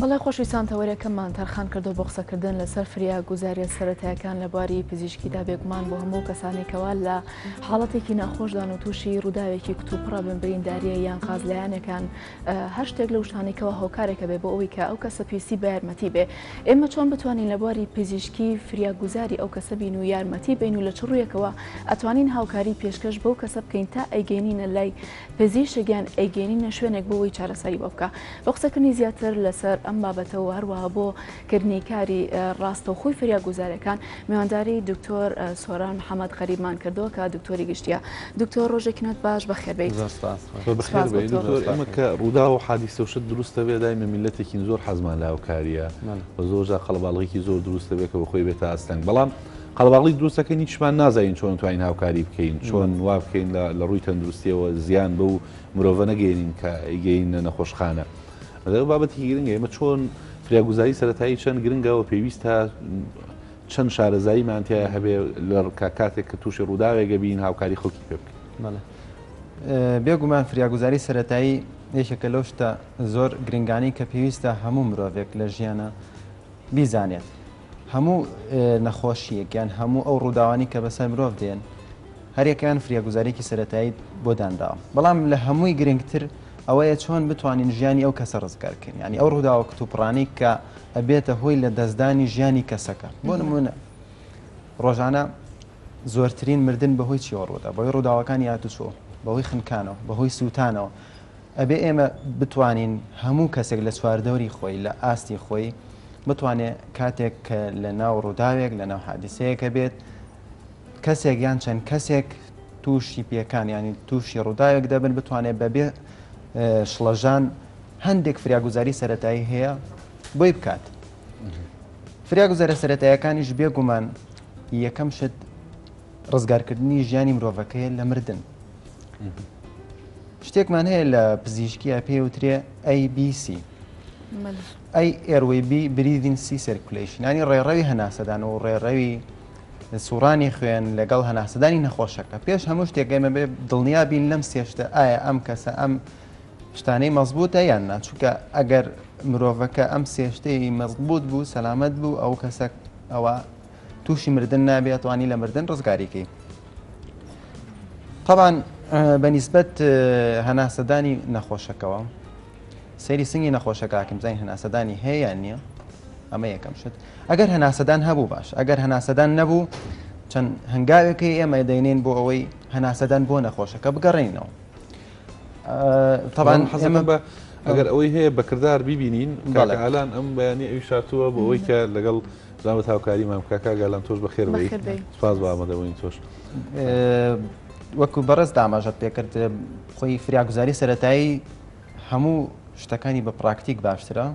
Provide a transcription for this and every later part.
بەڵێ خۆشویستان تەوەرەکەمان تەرخان کردو بۆ قسەکردن لەسەر فریا گوزاریە سەرەتایەکان لە بواری پزیشکیدا بێگومان بۆ هەموو کەسانێکەوە لە حاڵەتێکی ناخۆشدان و تووشی ڕووداوێکی کتوپڕە بمبرینداریە یان قازلایەنەکان هەر شتێک لە شتانێکەوە هۆکارێکە بێ بۆ ئەوی کە ئەو کەسە پێویستی بە یارمەتی بێ ئێمە چۆن بتوانین لە بواری پزیشکی فریا گوزاری ئەو کەسە بین و یارمەتی بین و لە چڕویەکەوە ئەتوانین هاوکاری پێشکەش بەو کەسە بکەین تا ئەیگەینینە لای پزیشک یان ئەیگەینینە شوێنێک بۆ وەی چارەسەری بۆ بکە بۆ قسەکردنی زیاتر لەسەر ئەم بابەتەوە هەروەها بۆ کردنی کاری ڕاستەوخۆی فریا گوزارەکان میوانداری دکتۆر سۆران محەممەد غەریبمان کردەوە کە دکتۆری گشتیە دکتۆر ڕۆژێکی نوێت باش بەخێربیت ئمە کە ڕوودا و حادی سەوشت دروستە بێ دایمە میلەتێکین زۆر حەزمان لاوکاریە بە زۆر جا قەڵباڵغێکی زۆر دروستە بێ کە بە خۆی بێتە ئاستەنگ بەڵام قەڵەباغڵی دروستەکەین هیچمان نازانین چۆن توانین هاوکاری بکەین چۆن وا بکەین لە ڕووی تەندروستیەوە زیان بەو مرۆڤە نەگەێنین کە ئیگەینە نەخۆشخانە بابەتی گرنگ ئێمە چۆن فریاگوزاری سەتایی چەند گرنگەوە پێویستە چەند شارەزایی مانتیا هەبێ لە کاتێک کە تووشی ڕووداوێگە بین هاوکاری خەڵکی پێ بکەین بێگومان فریاگوزاری سەتایی یەکێکە لەو شتە زۆر گرنگانی کە پێویستە هەموو مرۆڤێک لە ژیانە بیزانێت هەموو نەخۆشییەک یان هەموو ئەو ڕووداوانەی کە بەسەر مرۆڤ دێن هەریەکەیان فریاگوزاریەکی سەرەتایی بۆ دانراوە بەڵام لە هەمووی گرنگتر ئەوەیە چۆن بتوانین ژیانی ئەو کەسە ڕزگار بکەین یانی ئەو ڕووداوە کتوپڕانەی کە ئەبێتە هۆی لە دەستدانی ژیانی کەسەکە بۆ نمونە ڕۆژانە زۆرترین مردن بەهۆی چیەوە ڕوودا بەهۆی ڕووداوەکانی هاتوچۆ بەهۆی خنکانەوە بەهۆی سووتانەوە ئەبێ ئێمە بتوانین هەموو کەسێک لە چواردەوری خۆی لە ئاستی خۆی بتوانێ کاتێک کە لە ناو ڕووداوێک لە ناو حادیسەیەکە بێت کەسێک یان چەند کەسێک تووشی پێکان ینی تووشی ڕووداوێک دەبن بتوانێت بەبێ شڵەژان هەندێک فریاگوزاری سەتایی هەیە بۆی بکات فریاگوزارە سەتایەکانیش بێگومان یەکەم شت ڕزگارکردنی ژیانی مرۆڤەکەیە لە مردن. شتێکمان هەیە لە پزیشکیە پێ وترێ ABC ئەی ئێروەی بی بریدین سی سرکلیشنانی ڕێڕەوی هەناسەدان و ڕێڕەوی سوڕانی خوێن لەگەڵ هەناسەدانی نەخۆشەکە پێش هەموو شتێکگەمە بێ دڵنیا بین لەم سێشتە ئایا ئەم کەسە ئەم شتانەی مەزبووتە یان ناچووکە ئەگەر مرۆڤەکە ئەم سێشتەی مەزبوت بوو سەلامەت بوو ئەو کەسە ئەوە توشی مردن نابێ ئەتوانی لە مردن ڕزگاری کەی طبعاان بە نیسبەت هەناسەدانی نەخۆشەکەەوە سەیری سنگی نەخۆشەکەکەم زین هەناسەدانی هەیە نییە ئەمە یەکەم شت ئەگەر هەناسەدان هەبوو باش ئەگەر هەناسەدان نەبوو چەند هەنگاوێکی ئێمە دەینین بۆ ئەوەی هەناسەدان بۆ نەخۆشەکە بگەڕێنەوە طبعاان حەزەمە بە ئەگەر ئەوەی هەیە بەکردار ببینین ئالان ئەم بەیانی ئەوی شاتووە بۆ ئەوەی کە لەگەڵ زۆر بە هاوکاری مام کاکا گالان تۆش بەخێر بی سپاس بە ئامادەبوونی تۆش وەکو بەڕێز داماژەت پێکرد خۆی فریاگوزاری سەتایی هەموو شتەکانی بە پراکتیک باشترە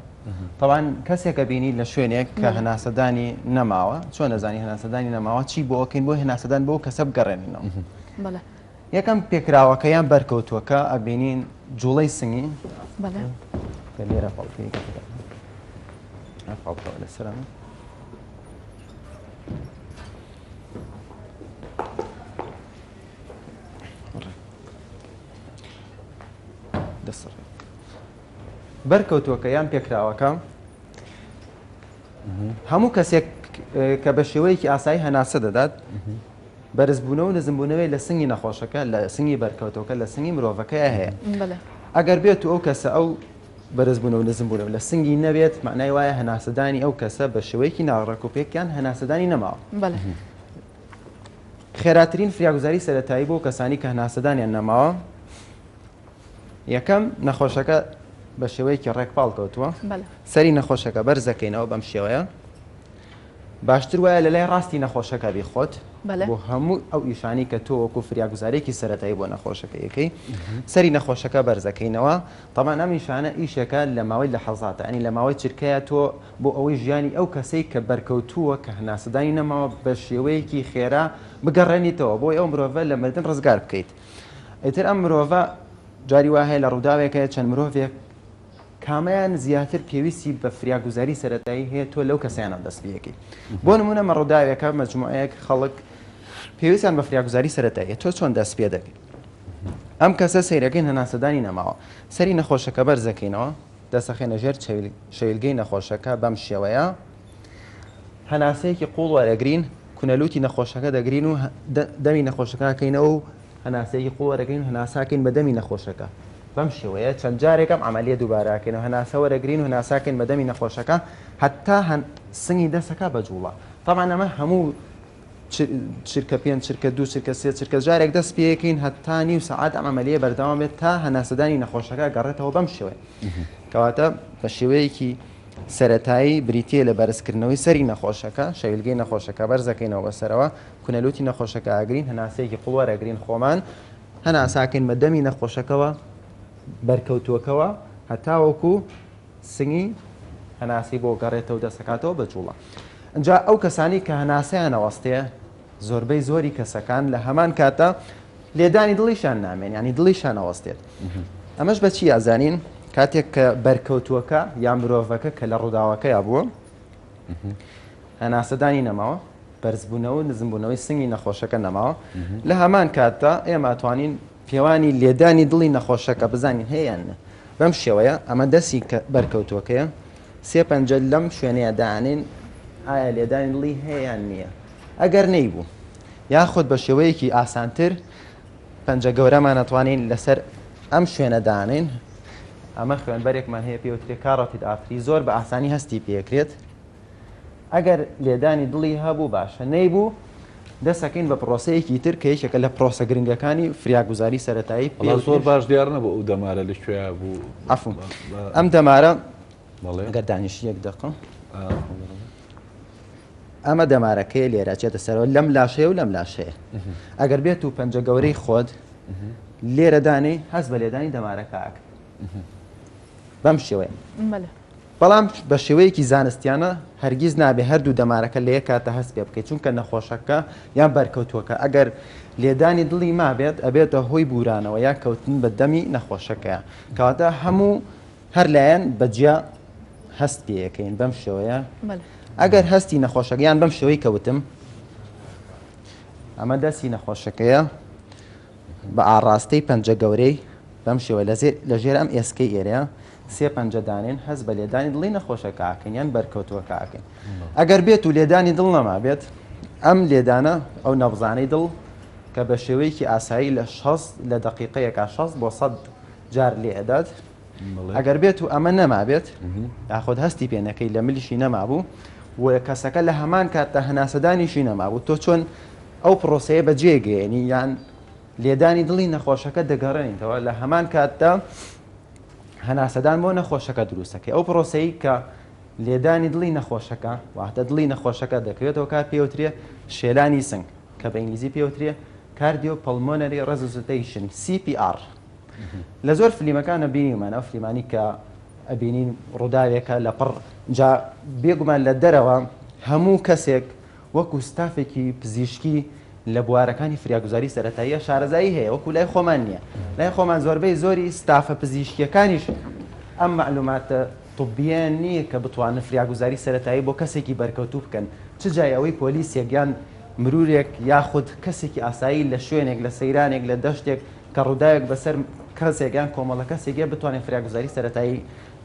تاوان کەسێکە بینی لە شوێنێک کە هەناسەدانی نەماوە چۆن نەزانی هەناسەدانی نەماوە چی بۆ ئەوکەین بۆ هەناسەدان بۆ کەسە بگەڕێنینەوە یەکەم پێکراوەکە یان بەرکەوتووەکە ئەبینین جوڵەی سنگی لێرە پڵپی پڵپەوە لەسەرم دەسڕ بەرکەوتووەکە یان پێکراوەکە هەموو کەسێک کە بە شێوەیەکی ئاسایی هەناسە دەدات بەرزبوونەوە و نزمبوونەوەی لە سنگی نەخۆشەکە، لە سنگی بەرکەوتەوەکە، لە سنگی مرۆڤەکەیا هەیە. ئەگەر بێتو ئەو کەسە ئەو بەرزبوونەوە و نزمبوونەوە لە سنگی نەبێت، مەعنای وایە هەناسەدانی ئەو کەسە بە شێوەیەکی ناڕێک و پێک یان هەناسەدانی نەماوە. خێراترین فریاگوزاری سەرەتایی بۆ کەسانی کە هەناسەدانیان نەماوە، یەکەم، نەخۆشەکە بە شێوەیەکی ڕێک پاڵکەوتووە، سەری نەخۆشەکە بەرز دەکەینەوە بەم شێوەیە، باشتر وایە لە لای ڕاستی نەخۆشەکە بیخۆت بۆ هەموو ئەو ئیشانەی کە تۆ وەکو فریاگوزارێکی سەرەتایی بۆ نەخۆشەکە ئەکەی، سەری نەخۆشەکە بەرز دەکەینەوە، تەبعەن ئەم ئیشانە ئیشێکە لە ماوەی لەحەزاتە، یانی لە ماوەی چرکەیە تۆ بۆ ئەوەی ژیانی ئەو کەسەی کە بەرکەوتووە کە هەناسەدانی نەماوە بە شێوەیەکی خێرا بگەڕێنیتەوە بۆی ئەو مرۆڤە لە مردن ڕزگار بکەیت. ئیتر ئەم مرۆڤە جاری وا هەیە لە ڕووداوێک هەیە چەند مرۆڤێک کامەیان زیاتر پێویستی بە فریاگوزاری سەرەتایی هەیە تۆ لەو کەسیانە دەست پێەکەی بۆ نمونە مە ڕووداوێکە مەجموعەیەک خەڵک پێویستیان بە فریاگوزاری سەرەتایی تۆ چۆن دەست پێ دەکەی ئەم کەسە سیرەکەین هەناسەدانی نەماوە سەری نەخۆشەکە بەرزەکەینەوە دەسەخێنە ژێر شەویلگەی نەخۆشەکە بەم شێوەیە هەناسەیەکی قوڵ وەرەگرین کونەلوتی نەخۆشەکە دەگرین و دەمی نەخۆشەکەکەینەوە و هەناسەیەکی قوڵ وەرەگرین و هەناساکەین بە دەمی نەخۆشەکە بەم شێوەیە چەند جارێکم عملیە دووباراکەین و هەناسە وەرەگرین و هەناساکەین بە دەمی نەخۆشەکە هەتا هەن سنگی دەسەکە بە جوڵە طبعا ئەمە هەموو چرکە پێنج چرکە دوو چرکە سێ چرکە جارێک دەست پێەکەین هەتا نیو سعات ئەم عملیە بەردەوام بێت تا هەناسەدانی نەخۆشەکە گەڕێتەوە بەم شێوەیە کەواتە بە شێوەیەکی سەرەتایی بریتییە لە بەرزکردنەوەی سەری نەخۆشەکە، شەویلگەی نەخۆشەکە بەرز دەکەینەوە بە سەرەوە، کونە لوتی نەخۆشەکە ئەگرین، هەناسەیەکی قوڵ وەرئەگرین خۆمان، هەناسەکەین بە دەمی نەخۆشەکەوە بەرکەوتووەکەوە هەتاوەکو سنگی هەناسەی بۆ گەڕێتەوە دەستەکاتەوە بە جوڵە ئەجا ئەو کەسانی کە هەناسەیان نەوەستێ، زۆربەی زۆری کەسەکان لە هەمان کاتدا لێدانی دڵیشیان نامێن یانی دڵیشان ئەوەستێت ئەمەش بەچی یازانین کاتێک کە بەرکەوتووەکە یان مرۆڤەکە کە لە ڕووداوەکەیا بووە هەناسەدانی نەماوە بەرزبوونەوە نزمبوونەوەی سنگی نەخۆشەکە نەماوە لە هەمان کاتدا ئێمە توانین پێوانی لێدانی دڵی نەخۆشەکە بزانین هەیە یان نە. بەم شێوەیە ئەمە دەستی بەرکەوتووەکەیە، سێ پەنجە لەم شوێنەیە دانێن ئایا لێدانی دڵی هەیە یان نییە. ئەگەر نەیبوو یاخود بە شێوەیەکی ئاسانتر پەنجە گەورەمان ئەتوانین لەسەر ئەم شوێنە دانێن، ئەمە خوێنبەرێکمان هەیە پێوترێ کاڕۆتید ئارتری زۆر بە ئاسانی هەستی پێکرێت. ئەگەر لێدانی دڵی هەبوو باشە نەیبوو دەسەکەین بە پرۆسەیەکی تر کە یەکێکە لە پرۆسە گرنگەکانی فریاگوزاری سەتایی پێ زۆر باش دیار نەبوو ئەو دەمارە لە کوێ بوو عفو ئەم دەمارە گەر دانیشی یەک دقم ئەمە دەمارەکەی لێرە چێتە سەرەوە لەم لاشەیە و لەم لاشەیە ئەگەر بێت و پەنجە گەورەی خۆت لێرەدانی هەز بە لێدانی دەمارەکە ئاکە بەم شێوەیە بەڵام بە شێوەیەکی زانستیانە هەرگیز نابێت هەردوو دەمارەکە لە یەک کاتدا هەست پێ بکەیت چونکە نەخۆشەکە یان بەرکەوتووەکە ئەگەر لێدانی دڵی مابێت ئەبێتە هۆی بورانەوە یان کەوتن بە دەمی نەخۆشەکەیە کەواتە هەموو هەر لایەن بە جیا هەست پێەکەین بەم شێوەیە ئەگەر هەستی نەخۆشەکەیان بەم شێوەی کەوتم ئەمە دەستی نەخۆشەکەیە بە ئاڕاستەی پەنجە گەورەی بەم شێوە لە ژێر ئەم ئێسکەی ئێرەیە سێ پەنجە دانێن هەست بە لێدانی دڵی نەخۆشەکە ئەکەین یان بەرکەوتووەکە ئەکەین ئەگەر بێت و لێدانی دڵ نەمابێت ئەم لێدانە ئەو نەبزانەی دڵ کە بە شێوەیەکی ئاسایی لە شەست لە دقیقەیەکە شەست بۆ سەد جار لێ ئەدات ئەگەر بێت و ئەمە نەمابێت یاخود هەستی پێنەکەی لە ملیشی نەمابوو و کەسەکە لە هەمان کاتدا هەناسەدانیشی نەمابوو تۆ چۆن ئەو پرۆسەیە بەجێگەیەنی یان لێدانی دڵی نەخۆشەکە دەگەڕێنیتەوە لە هەمان کاتدا هەناسەدان بۆ نەخۆشەکە دروست دەکەی ئەو پرۆسەی کە لێدانی دڵی نەخۆشەکە واتە دڵی نەخۆشەکە دەکەوێتەوە کار پێوترێ شێلانی سنگ کە بە ئینگلیزی پێوترێ کاردیۆ پەڵمۆنەری ڕێزوزتەیشن CPR لە زۆر فلیمەکانە بینیمان ئەو فلیمانی کە ئەبینین ڕووداوێکە لە پڕ جا بێگومان لە دەرەوە هەموو کەسێک وەکو ستافێکی پزیشکی لە بوارەکانی فریاگوزاری سەرەتاییە شارەزایی هەیە وەکو لای خۆمان نییە لای خۆمان زۆربەی زۆری ستافە پزیشکیەکانیش ئەم مەعلوماتە طبیەن نییە کە بتوانن فریاگوزاری سەرەتایی بۆ کەسێکی بەرکەوتوو بکەن چ جای ئەوەی پۆلیسێک یان مرورێک یاخود کەسێکی ئاسایی لە شوێنێک لە سەیرانێک لە دەشتێک کە ڕووداوێک بەسەر کەسێک یان کۆمەڵە کەسێک یە بتوانێت فریاگوزاری سەرەتایی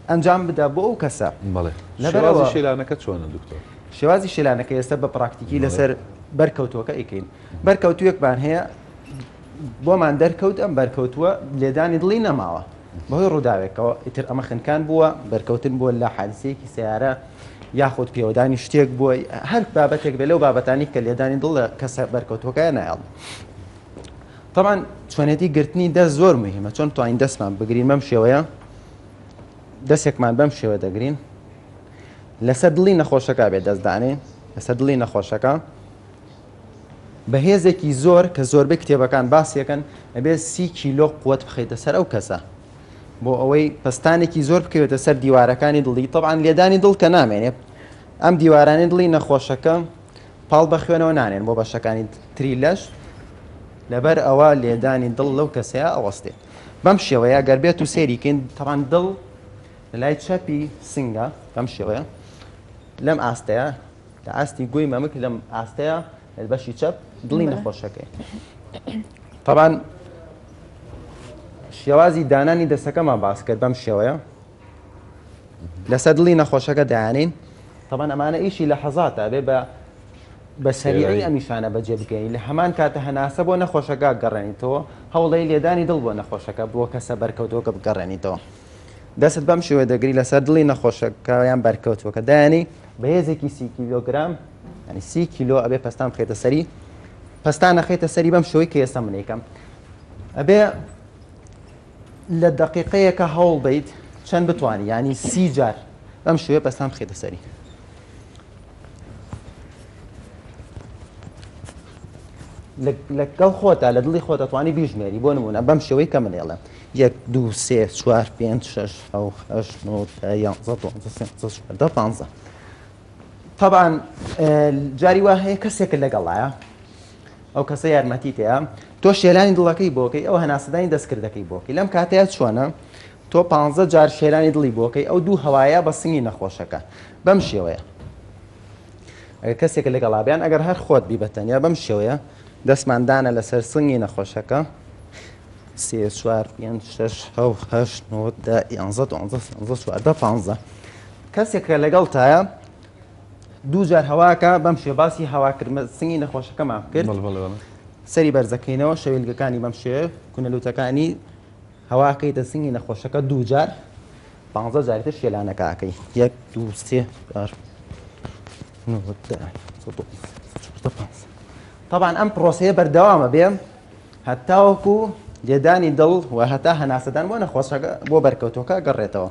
ئەنجام بدا بۆ ئەو کەسە شێوازی شیلانەکە چۆنە دکتۆر؟ شێوازی شیلانەکە ئێستا بە پراکتیکی لەسەر بەرکەوتووەکە ئەیکەین بەرکەوتوویەکمان هەیە بۆمان دەرکەوت ئەم بەرکەوتووە لێدانی دڵی نەماوە بەهۆی ڕووداوێکەوە ئیتر ئەمە خنکان بووە بەرکەوتن بووە لە حادسەیەکی سیارە یاخود پێوەدانی شتێک بووە هەر بابەتێک بێ لەو بابەتانی کە لێدانی دڵ لە کەسە بەرکەوتوەکەیان نایڵ طبعاان چۆنێتی گرتنی دەست زۆر مهمە چۆن توانین دەستمان بگرین مەم شێوەیە دەسێکمان بەم شێوە دەگرین لەسەر دڵی نەخۆشەکە بێ دەست دانین لەسەر دڵی نەخۆشەکە بە هێزێکی زۆر کە زۆربەی کتێبەکان باسیەکەن ئەبێت سی کیلۆ قوت بخیتە سەر ئەو کەسە بۆ ئەوەی پستانێکی زۆر بکەوێتە سەر دیوارەکانی دڵی تەعاان لێدانی دڵ کە نامێنێت ئەم دیوارانی دڵی نەخۆشەکە پاڵ بە خوێنەوە نانێن بۆ بەشەکانی تری لەش لەبەر ئەوە لێدانی دڵ لەو کەسەیە ئەوەستێت بەم شێوەیە گەر بێت و سێری کەین تڕەندڵ لە لای چەپی سنگە بەم شێوەیە لەم ئاستەیە لە ئاستی گوی مەمک لەم ئاستەیە بەشی چەپ دڵی نەخۆشەکەی طبعا شێوازی دانانی دەستەکەمان باس کرد بەم شێوەیە لەسەر دڵی نەخۆشەکە دانین تەبەن ئەمانە ئیشی لە حەزات ئەبێ بە بە سەریعی ئەمیشانە بەجێ بکەین لە هەمان کاتە هەناسە بۆ نەخۆشەکە گەڕێنیتەوە هەوڵی لێدانی دڵ بۆ نەخۆشەکە بۆ کەسە بەرکەوتۆکە بگەڕێنیتەوە دەست بەم شێوە دەگری لەسەر دڵی نەخۆشەکەیان بەرکەوتوەکە دایانی بەهێزێکی سی کیلۆگرام ینی سی کیلۆ ئەبێ پستان خێتە سەری پستان نەخێتە سەری بەم شوی کە ئێستا منێکم ئەبێ لە دەقیقەیەکە هەوڵ بەیت چەند بتوانی یعنی سی جار بەم شوێ پەستان بخێتە سەری لەگەڵ خۆتا لە دڵی خۆت دەتوانانی بیژمێری بۆ نمونە بەم شێوەی کە منێڵێ یەک دو سێ چوار پێ شش ئەو ئەش نۆ یانزە پانزە تەبعەن جاری وا هەیە کەسێکت لەگەڵایە ئەو کەسە یارمەتی تەیە تۆ شێلانی دڵەکەی بۆکەی ئەو هەناسەدانی دەستکردەکەی بۆکەی لەم کاتەیە چۆنە تۆ پ جار شێلانی دڵی بۆکەی ئەو دوو هەوایە بە سنگی نەخۆشەکە بەم شێوەیە ئەگەر کەسێک لەگەڵابیان ئەگەر هەر خۆت بی بەتەنیا بەم شێوەیە دەستماندانە لەسەر سنگی نەخۆشەکە سێ چوار پێ شش هەو هەشت نۆ دە یانزە دوانزە سێزە چواردە پانزە کەسێک کە لەگەڵتایە دوو جار هەواکە بەم شێ باسی هەواکردمە سنگی نەخۆشەکەمان بکرد بەڵێ بەڵێ بەڵێ سەری بەرزەکەینەوە شەویلگەکانی بەم شێ کونەلوتەکانی هەواکەیتە سنگی نەخۆشەکە دوو جار پ جاری تر شێلانەکەکەی یەک دوو سێ چوار نۆ، دە، سەد و بیست، سەد و چواردە، پانزە. طبعاً ئەم پرۆسەیە بەردەوامە بێ هەتاوەکو لێدانی دڵ و هەتا هەناسەدان بۆ نەخۆشەکە بۆ بەرکەوتەکە گەڕێتەوە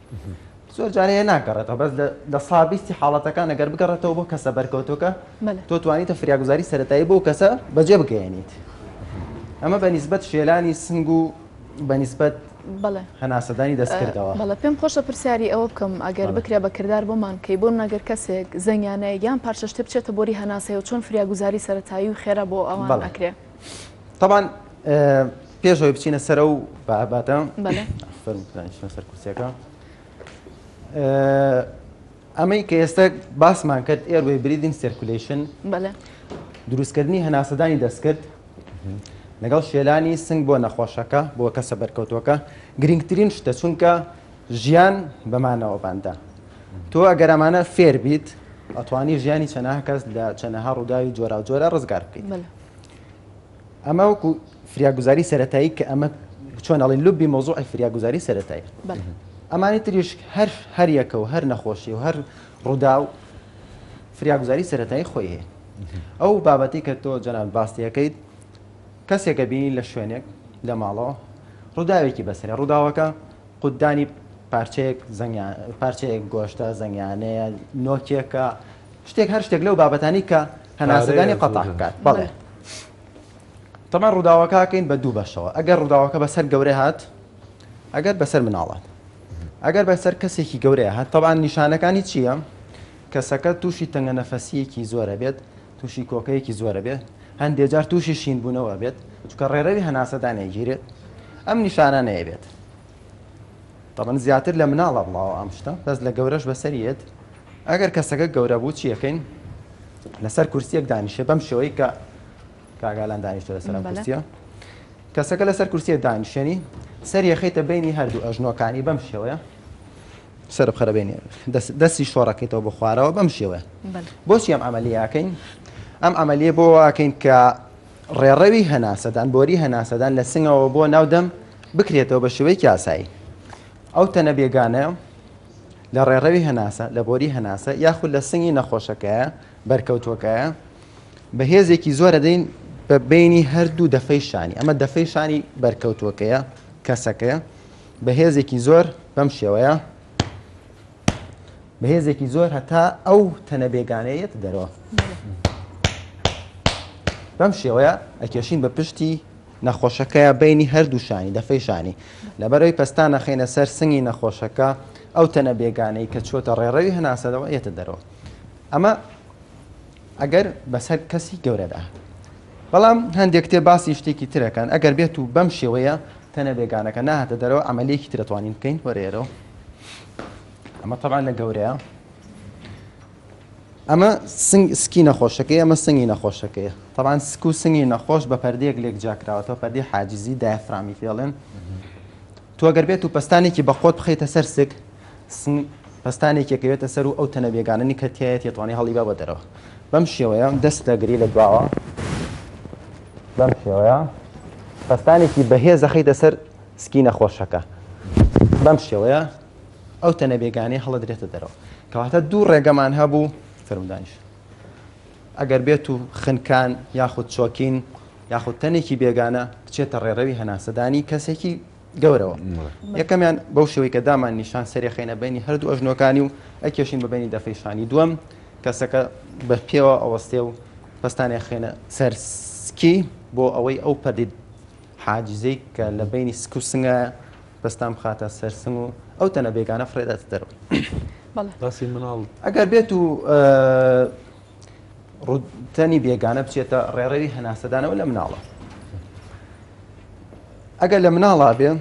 زۆر جارێ هێ ناگەڕێتەوە بەس لە لە سا بیستی حاڵەتەکان ئەگەر بگەڕێتەوە بۆ کەسە بەرکەوتۆکە بەلێ تۆ توانیتە فریاگوزاری سەتایی بۆ کەسە بەجێ بگەیەنیت ئەمە بە نیسبەت شێلانی سنگ و بە نیسبەت بەڵێ هەناسەدانی ئە، دەستکردەوە بەڵێ پێم خۆشە پرسیاری ئەوە بکەم ئەگەر بەڵێ بکرێ بە کردار بۆمان بکەی بۆ منە گەر کەسێک زەنگیانەیەک یان پارچە شتێ بچێتە بۆری هەناسەیەوە چۆن فریاگوزاری سەرەتایی و خێرا بۆ ئەوان بەڵێ ئەکرێ؟ تەبان پێشەوەی بچینە سەرە و باباتە بەڵێشنە سەر کورسەکە ئەمەی کە ئێستا باسمان کرد ئێروێ بریدین سرکولیشن بەڵێ دروستکردنی هەناسەدانی دەستکرد لەگەڵ شێلانی سنگ بۆ نەخۆشەکە بۆ کەسە بەرکەوتوەکە گرنگترین شتە چونکە ژیان بەمانەوە باندا تۆ ئەگەرمانە فێر بیت ئەتوانی ژیانی چەناها کەس لە چەنەها ڕووداوی جۆرا جۆرە ڕزگار بکەیت ئەمە وەکو فریاگوزاری سەتایی کە ئەمە چۆن ئەڵین لوبی مۆزوعی فریاگوزاری سەتایی ئەمانی تریش هەر هەریەکە و هەر نەخۆشی و هەر ڕوودا و فریاگوزاری سەتایی خۆی هەیە ئەو بابەتی کە تۆ جەنان باستیەکەیت کەسێکە بینی لە شوێنێک لە ماڵەوە ڕووداوێکی بەسرە ڕووداوەکە قوددانی پارچەیەک زەنگیان پارچەیەک گۆشتە زەنگیانەیە نۆکێکە شتێک هەر شتێک لەو بابەتانی کە هەناسەدانی قەتع بکات بەڵێ تەمان ڕووداوەکەکەین بە دوو بەشەوە ئەگەر ڕووداوەکە بەسەر گەورە هات ئەگەر بەسەر مناڵات ئەگەر بەسەر کەسێکی گەورەیە هات تەبان نیشانەکانی چییە کەسەکە تووشی تەنگە نەفەسیەکی زۆرە بێت تووشی کۆکەیەکی زۆرە بێت هەندێک جار تووشی شینبوونەوە بێت چکە ڕێرەوی هەناسەدانێگیرێت ئەم نیشانانەیە بێت تەبەن زیاتر لە مناڵە بڵاوە ئەم شتە بەس لە گەورەش بەسەریت ئەگەر کەسەکە گەورە بوو چی ئەکەین؟ لەسەر کورسیەک دانیشێ بەم شێوەی کە کاگالان دانیشتە لەسەر ئەم کورسیە کەسەکە لەسەر کورسیە دانیشێنی سەر یەخیتە بینی هەردوو ئەژنۆکانی بەم شێوەیە سەر بخەرە بینێ دەستی شۆڕەکەیتەوە بە خوارەوە بەم شێوەیە بۆچی ئەم ئەمەلیاکەین ئەم ئەمەلیە بۆ واکەین کە ڕێڕەوی هەناسەدان بۆری هەناسەدان لە سنگەوە بۆ ناودەم بکرێتەوە بە شێوەی کاسایی ئەو تەنە بێگانەیە لە ڕێڕەوی هەناسە، لە بۆری هەناسە یاخود لە سنگی نەخۆشەکەیە بەرکەوتووەکەیە بە هێزێکی زۆر ئەدەین بە بەینی هەردوو دەفەی شانی، ئەمە دەفەی شانی بەرکەوتووەکەیە، کەسەکەیە، بە هێزێکی زۆر بەم شێوەیە بە هێزێکی زۆر هەتا ئەو تەنە بێگانەیە یەتە دەرەوە. بەم شێوەیە ئەکێشین بە پشتی نەخۆشەکەیە بەینی هەردوو شانی، دەفەی شانی. لەبەرەوەی پەستان ئەخەینە سەر سنگی نەخۆشەکە، ئەو تەنە بێگانەی کە چۆتە ڕێڕەوی هەناسەدەوە ئەیەتە دەرەوە. ئەمە ئەگەر بەسەر کەسی گەورەدا هات. بەڵام هەندێک کتێب باسی شتێکی تر ئەکەن، ئەگەر بێت و بەم شێوەیە تەنە بێگانەکە نەهاتە دەرەوە، عەمەلییەکی تر ئەتوانین بکەین. وەرە ئێرەوە. ئەمە تەبعەن لە گەورەیە. ئەمە سنگ سکی نەخۆشەکەی ئەمە سنگی نەخۆشەکەیە تەبان سک و سنگی نەخۆش بە پردێک لێک جاکراوەتەوە پردی حاجزی دایفرامی پێڵێن تۆگەر بێت و پستانێکی بەخۆت بخیتە سەر سک پستانێکێکەوێتە سەر و ئەو تەنە بێگاننی کەتیایەت یێتوانی هەڵی بە بە دەرەوە بەم شێوەیە دەست دەگری لە دواوە بەم شێوەیە پستانێکی بەهێز دەخیتە سەر سکی نەخۆشەکە بەم شێوەیە ئەو تەنە بێگانەیە هەڵەدرێتە دەرەوە کەواتە دوو ڕێگەمان هەبوو فرمدانش ئەگەر بێت و خنکان یاخود چۆکین یاخود تەنێکی بێگانە بچێتە ڕێڕەوی هەناسەدانی کەسێکی گەورەوە یەکەمیان بەو شێوەی کە دامان نیشان سەری خینە بینی هەردوو ئەژنۆکانی و ئەکێشین بە بینی دەفەیشانی دووەم کەسەکە بە پێوە ئەوەستێ و پستانێ خێنە سەرسکی بۆ ئەوەی ئەو پەردی حاجزێک کە لە بەینی سک و سنگایە دەستان بخاتە سەر سنگ و ئەو تەنە بێگانە فڕێداتە دەرەوە باسی مناڵ ئەگەر بێت و ڕوتەنی بێگانە بچێتە ڕێڕەوی هەناسەدانەوە لە مناڵە ئەگەر لە مناڵا بێ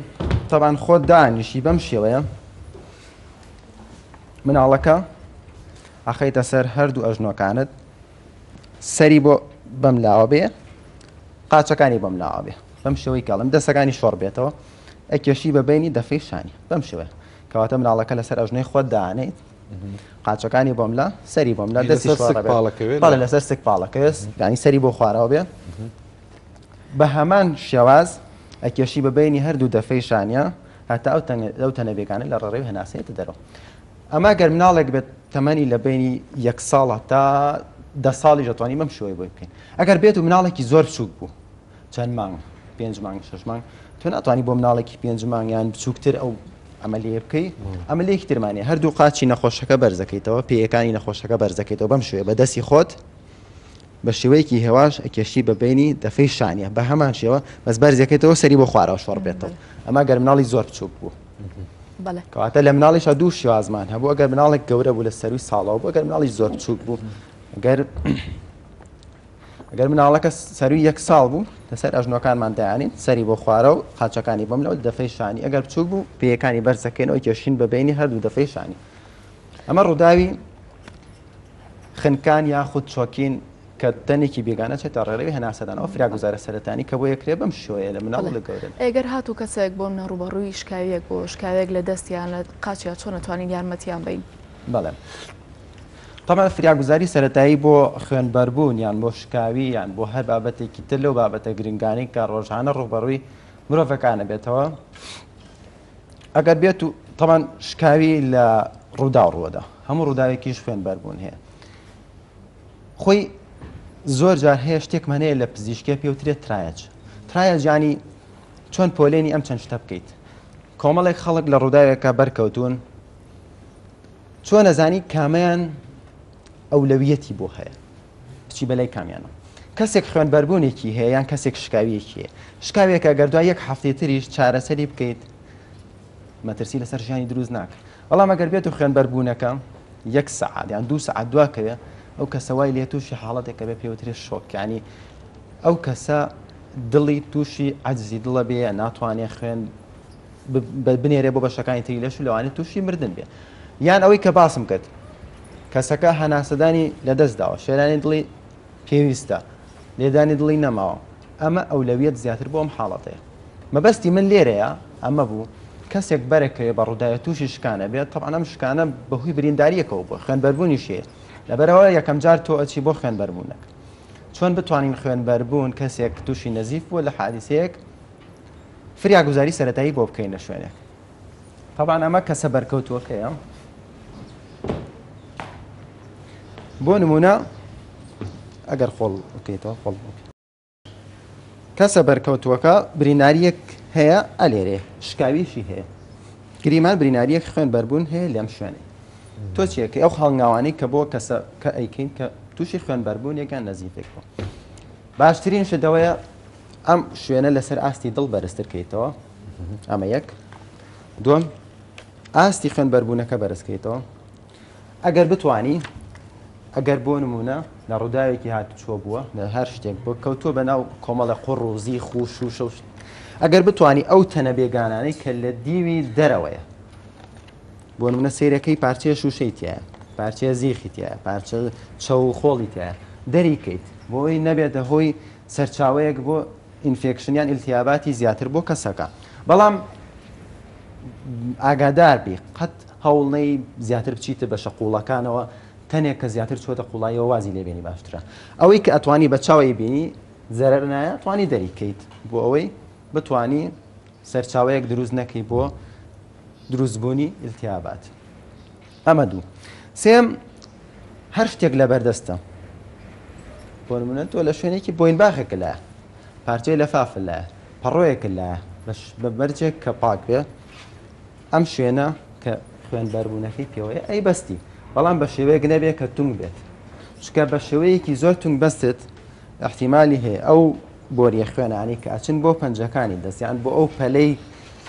تەبان خۆ دانیشی بەم شێوەیە مناڵەکە ئەخەیتە سەر هەردوو ئەژنۆکانت سەری بۆ بەم لاوە بێ قاچەکانی بەم لاوە بێ بەم شێوەی کەڵم دەسەکانی شۆڕ بێتەوە ئەکێشی بە بینی دەفەی شانی بەم شێوەیە کەواتە مناڵەکە لەسەر ئەژنەی خۆت دانیت قاچەکانی بۆم لە سەری بۆم لە دەستی پاڵەکەێت لەسەر سک پاڵەکەێت ینی سەری بۆ خوارەوە بێ بە هەمان شێواز ئەکێشی بە بینی هەردوو دەفەی شانە هەتا ئەو تەنەبێکانە لە ڕێی هەناسێتە دەرەوە ئەمە گەر مناڵێک بێت تەمەنی لە بەینی یەک ساڵە تا دە ساڵیش دەتوانین بەم شێوەی بۆی بکەین ئەگەر بێت و مناڵێکی زۆر بچووک بوو چەند مانگ پێنج مانگ شەش مانگ تۆ ناتوانانی بۆ مناڵێکی پێنج مانگیان بچووکتر ئەو ئەمەلیە بکەی ئەمەلێکی ترمانێ هەردوو قاچی نەخۆشەکە بەرزەکەیتەوە پێیەکانی نەخۆشەکە بەرزەکەیتەوە بەم شوێ بە دەستی خۆت بە شێوەیەکی هێواش ئەکێشی بە بینی دەفەی شانە بە هەمان شێوە بەس بەرزەکەیتەوە سەری بۆ خوارەوە شۆڕ بێتەوە ئەما گەر مناڵی زۆر بچووک بوو کەواتە لە مناڵیشا دوو شێوازمان هەبوو ئەگەر مناڵێک گەورە بوو لە سەروی ساڵەوە بۆ گەر مناڵی زۆر بچووک بوو گەر گەر مناڵەکە سەروی یەک ساڵ بوو لەسەر ئەژنۆکانمان دایانین سەری بۆ خوارە و قاچەکانی بۆم لەوە دەفەی شانی ئەگەر بچوو بوو پێیەکانی بەرزەکەینەوە کێشین بە بینی هەردوو دەفەی شانی ئەمە ڕووداوی خنکان یاخود چۆکین کە تەنێکی بێگانە چێتە ڕێڕەوی هەناسەدان، ئەو فراگوزارە سەرەتانی کە بۆیە کرێ بەم شێوەیە لە مناڵ و لە گەورەدا. ئەی گەر هاتوو کەسێک بۆ منە ڕووبەڕووی شکاوییەک بوو، شکاوێک لە دەست یان لە قاچیا چۆن ئەتوانین یارمەتیان بەین؟ بەڵێ تەبعەن فراگوزاری سەرەتایی بۆ خوێنبەربوون یان بۆ شکاوی یان بۆ هەر بابەتێکی تر لەو بابەتە گرنگانەی کە ڕۆژانە ڕووبەڕووی مرۆڤەکان ئەبێتەوە ئەگەر بێت و تەبعەن شکاوی لە ڕووداو ڕووەدا هەموو ڕووداوێکیش خوێنبەربوون هەیە. خۆی زۆر جار هەیە شتێکمان هەیە لە پزیشکێ پێوترێت ترایەج ترایەج ینی چۆن پۆلێنی ئەم چەند شتە بکەیت کۆمەڵێک خەڵک لە ڕووداوێکە بەرکەوتون چۆن نەزانی کامیان ئەولەویەتی بۆ هەیە بچی بەلای کامیانە کەسێک خوێن بەربوونێکی هەیە یان کەسێک شکاویەکی هەیە شکاوێکە گەردوای یەک هەفتەی تریش چارەسەری بکەیت مەترسی لەسەر ژیانی دروست ناکە بەڵام ئەگەر بێت و خوێنبەربوونەکە یەک سەعات یان دوو سەعات دواکەوێ ئەو کەسە وای لێ تووشی حاڵەتێکە بێ پێوترێ شۆکانی ئەو کەسە دڵی تووشی عجزی دڵە بێ ناتوانێ خوێن بنێرێ بۆ بەشەکانی تری لەش و لەوانێت تووشی مردن بێ یان ئەوەی کە باسم کرد کەسەکە هەناسەدانی لەدەست داوە شێرانی دڵی پێویستە لێدانی دڵی نەماوە ئەمە ئەولەویەت زیاتر بۆم حاڵەتەیە مەبەستی من لێرەیە ئەمە بوو کەسێک بەرەکەوێ بە ڕووداوێ تووشی شکانە بێت تەبعەن ئەم شکانە بەهۆی بریندارییەکەوە بووە خوێنبەربوونیش هەیە لەبەرەوە یەکەم جار تۆ ئەچی بۆ خوێنبەربوونەک چۆن بتوانین خوێنبەربوون کەسێک تووشی نەزیف بووە لە حادیسەیەک فریاگوزاری سەتایی بۆ بکەین لە شوێنێک تەبان ئەمە کەسە بەرکەوتووەکەیە بۆ نمونە ئەگەر خۆڵ بکەیتەوە خۆڵ بکە کەسە بەرکەوتووەکە بریناریەک هەیە ئەلێرێ شکاویشی هەیە گریمان بریناریەک خوێن بەربوون هەیە لەم شوێنێ تۆ چیەکە ئەو هەڵنگاوانەی کە بۆ کەسە کە ئەیکەین کە تووشی خوێن بەربوون یەکان نەزیفێک بوو باشترین شدەوەیە ئەم شوێنە لەسەر ئاستی دڵ بەرزترکەیتەوە ئەمە یەک دوم ئاستی خوێن بەربوونەکە بەرزکەیتەوە ئەگەر بتوانی ئەگەر بۆ نمونە لە ڕووداوێکی هاتوچۆ بووە لە هەر شتێک بۆ کەوتووە بە ناو کۆمەڵە قڕ و زیخ و شوشە و ئەگەر بتانی ئەو تەنە بێگانانەی کە لە دیوی دەرەوەیە بۆ نمونە سیرەکەی پارچەیە شوشەی تایە پارچەیە زیخی تایە پارچە چەو و خۆڵی تایە دەریکەیت بۆی نەبێتە هۆی سەرچاوەیەک بۆ ئینفێکشنیان ئیلتیاباتی زیاتر بۆ کەسەکە بەڵام ئاگادار بی قەت هەوڵ نەی زیاتر بچیتە بەشە قوڵەکانەوە تەنێک کە زیاتر چوەتە قوڵاییەوە وازی لێ بێنی باشترە ئەوەی کە ئەتوانی بە چاوەی بینی زەرەر نایە توانی دەری کەیت بۆ ئەوەی بتوانی سەرچاوەیەک دروست نەکەی بۆ دروست بوونی التیابات ئەمە دوو سێم هەر شتێک لە بەردەستە بۆ نمونە تۆ لە شوێنێکی بۆین باخێک لە پارچەی لەفاف لە پەڕۆیەک لە بە مەرجێک کە پاک بێ ئەم شوێنە کە خوێن بەربوونەکەی پێوەیە ئەی بەستی بەڵام بە شێوەیەک نەبێت کە تونگ بێت چکە بە شێوەیەکی زۆر تونگ بەستێت احتیممالی هەیە ئەو بۆریە خوێنانی کە ئەچن بۆ پەنجەکانی دەستیان بۆ ئەو پەلەی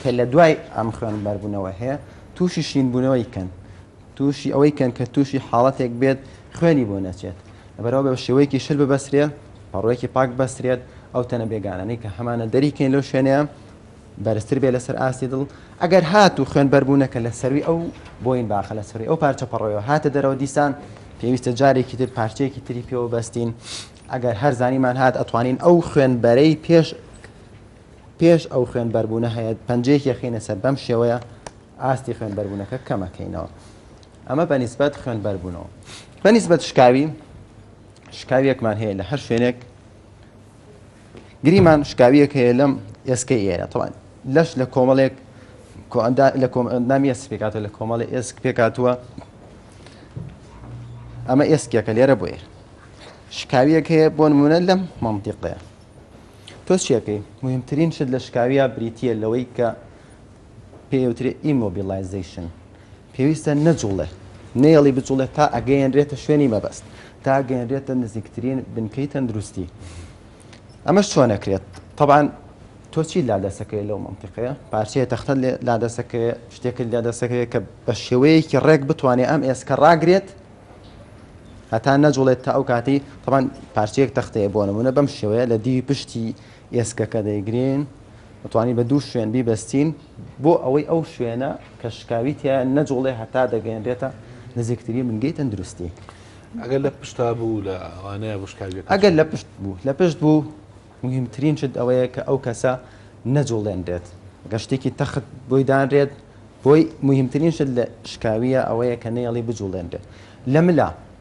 کە لە دوای ئەم خوێن بەربوونەوە هەیە تووشی شینبوونەوەی کەن تووشی ئەوەی کەن کە تووشی حاڵەتێک بێت خوێنی بۆ نەچێت بەرەوە بە شێوەیەکی شل ببەسرێت پەڕۆیەکی پاک بەسرێت ئەو تەنە بێگانانی کە هەمانە دەریکەین لەو شوێنەیە بەرزتر بێ لەسەر ئاستی دڵ ئەگەر هات و خوێن بەربوونەکە لە سەروی ئەو بۆین باخە لە سەروی ئەو پارچە پەڕۆیەوە هاتە دەرەوە دیسان پێویستە جارێکی تر پارچەیەکی تری پێوە بەستین ئەگەر هەر زانیمان هات ئەتوانین ئەو خوێنبەرەی پێش پێش ئەو خوێن بەربوونە هەیە پنجەیەکی خینە سەر بەم شێوەیە ئاستی خوێن بەربوونەکە کەمەکەینەوە ئەمە بەنیسبەت خوێن بەربوونەوە بەنیسبەت شکاوی شکاویەکمان هەیە لە هەر شوێنێک گریمان شکاویەک هەیە لەم ئێسکەی ئێرە تەوان لەش لە کۆمەڵێک لە نامی ئێس پێکاتە لە کۆمەڵی ئێسک پێکاتوە ئەمە ئێسکێکە لێرە بۆیە شکاویەک هەیە بۆ نمونە لەم مەمتیقەیە تۆ چیەکەی مهمترین شت لە شکاویە بریتە لەوەی کە پێی ئەوترێ ئیمۆبیڵایزەیشن، پێویستە نەجوڵێ، نەیەڵی بجوڵێ تا ئەگەیەنرێتە شوێنی مەبەست، تا ئەگەیەنرێتە نزیکترین بنکەی تەندروستی. ئەمەش چۆن ئەکرێت؟ تەبعەن تۆ چیت لا دەست ئەکەوێ لەو مەنتیقەیە؟ پارچەیە تەختەت لێ لا دەست ئەکەوێ، شتێکت لێ دەست ئەکەوێ کە بە شێوەیەکی ڕێک بتوانێ ئەم ئێسکە ڕاگرێت هەتا نەجوڵێت تا ئەو کاتەی تەبعەن پارچەیەک تەخت هەیە بۆ نموونە بەم شێوەیە لە دیوی پشتی ئێسکەکە دەیگرین دەتوانین بە دوو شوێن بیبەستین بۆ ئەوەی ئەو شوێنە کە شکاوی تیا نەجوڵێ هەتا دەگەێنرێتە نزیکتری بنگەی تەندروستی ئەگەر لە پشتا بوو لە ئەوانەیە بشکاوی ئەگەر لە پشت بوو لە پشت بوو مهمترین شت ئەوەیە کە ئەو کەسە نەجوڵێنرێت گەشتێکی تەخت بۆی دانرێت بۆی مهمترین شت لە شکاویە ئەوەیە کە نەیەڵی بجوڵێنرێت لە ملا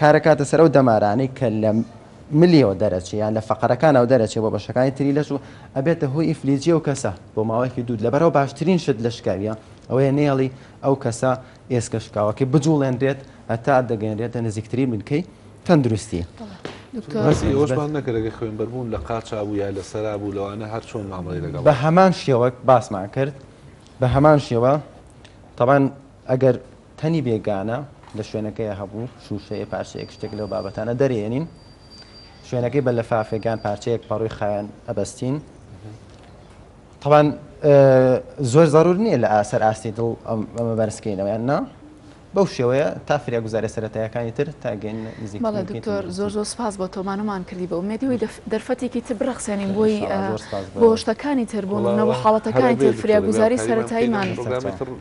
کارەکاتە سەر ئەو دەمارانەی کە لە ملیەوە دەرەچێ یان لە فەقەرەکانەوە دەرەچێ بۆ بەشەکانی تری لەش و ئەبێتە هۆی ئیفلیجی ئەو کەسە بۆ ماوەیەکی دوو لەبەرەوە باشترین شت لە شکاویە ئەوەیە نێڵی ئەو کەسە ئێسکە شکاوەکەی بجوڵێنرێت هەتا دەگەنرێتە نزیکترین بنکەی تەندروستی. باسی ئەوەشمان نەکرد ئەگەر خوێنبەربوون لە قاچا بوو یا لە سەرا بوو لەوانە هەر چۆن مامەڵەی لەگەڵ بە هەمان شێوە باسمان کرد بە هەمان شێوە تەبان ئەگەر تەنی بێگانە لە شوێنەکەی هەبوو، شووشەیە، پارچەیەک شتێک لەو بابەتانە دەرێنین، شوێنەکەی بە لەفافێکان پارچەیەک پەڕووی خاوێن ئەبەستین. تەبان زۆر زەرور نییە لە ئاسەر ئاستی دڵ ئەمە بەرزکەینەوە یان نا بەو شێوەیە تا فریا گوزارە سەتایەکانی تر تاگەین نزیک دکتۆر زۆر زۆر سپاس بۆ تۆمانمان کردی بە ئومێدیەوەی دەرفەتێکی تر بڕخسێنین بۆی بۆ شتەکانی تر بۆ منەوە حاڵەتەکانی تر فریا گوزاری سەتاییمان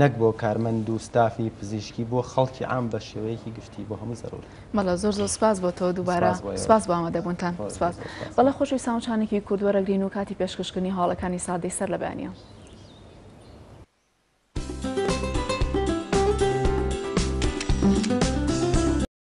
نەک بۆ کارمەند و ستافی پزیشکی بۆ خەڵکی عام بە شێوەیەکی گشتی بۆ هەموو زەرورە. بەڵێ زۆر زۆر سپاس بۆ تۆ دووبارە سپاس بۆ ئێوەش. سپاس بۆ ئامادەبوونتان. خۆش بێ سپاس. زۆر سپاس. بەڵێ خۆشەویستان وچانێکی کورت وەرەگرین و کاتی پێشکەشکردنی هەواڵەکانی ساردی سەر لە بەیانییە.